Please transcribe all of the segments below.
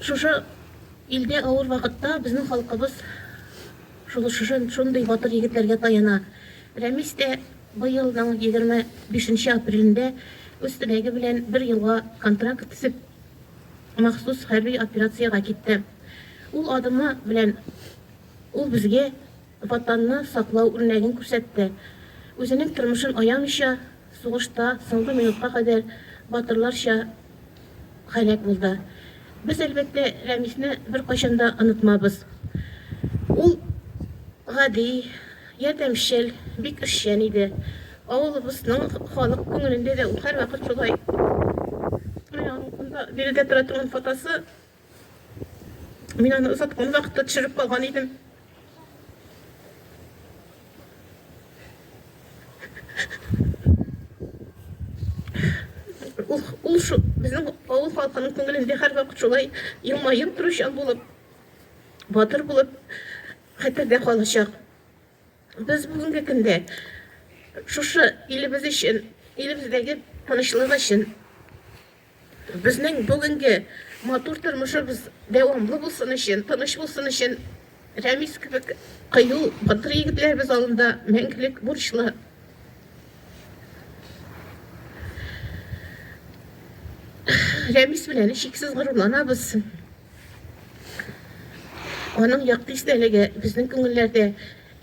Шушы илдә авыр вакытта безнең халкыбыз шундый батыр егетләргә таяна. Рәмис тә быелның егерме бишенче апрелендә үз теләге белән бер елга контракт төзеп, махсус хәрби операциягә китте. Ул адымы белән ул безгә Ватанны саклау үрнәген күрсәтте. Үзенең тормышын аямыйча, сугышта соңгы минутка кадәр батырларча һәлак булды. Без, әлбәттә, Рәмисне беркайчан да онытмабыз. Ул гади, ярдәмчел, бик эшчән иде. Авылыбызның халык күңелендә дә ул һәрвакыт шулай. Менә аның монда биредә тора торган фотосы. Мин аны озаткан вакытта төшереп калган идем. Ул, ул шу, безнең авыл халкының күңелендә һәрвакыт шулай елмаеп торучан булып, батыр булып хәтердә калачак. Без бүгенге көндә шушы илебез өчен, илебездәге тынычлык өчен Безнең бүгенге матур тормышыбыз дәвамлы булсын өчен, тыныч булсын өчен Рәмис кебек кыю, батыр егетләребез алдында мәңгелек бурычлы. Рәмис белән шиксез горурланабыз. Аның якты истәлеге безнең күңелләрдә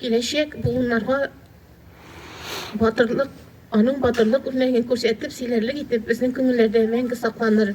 киләчәк буыннарга Батырлык, аның батырлык үрнәген күрсәтеп, сөйләрлек итеп, безнең күңелләрдә мәңге сакланыр.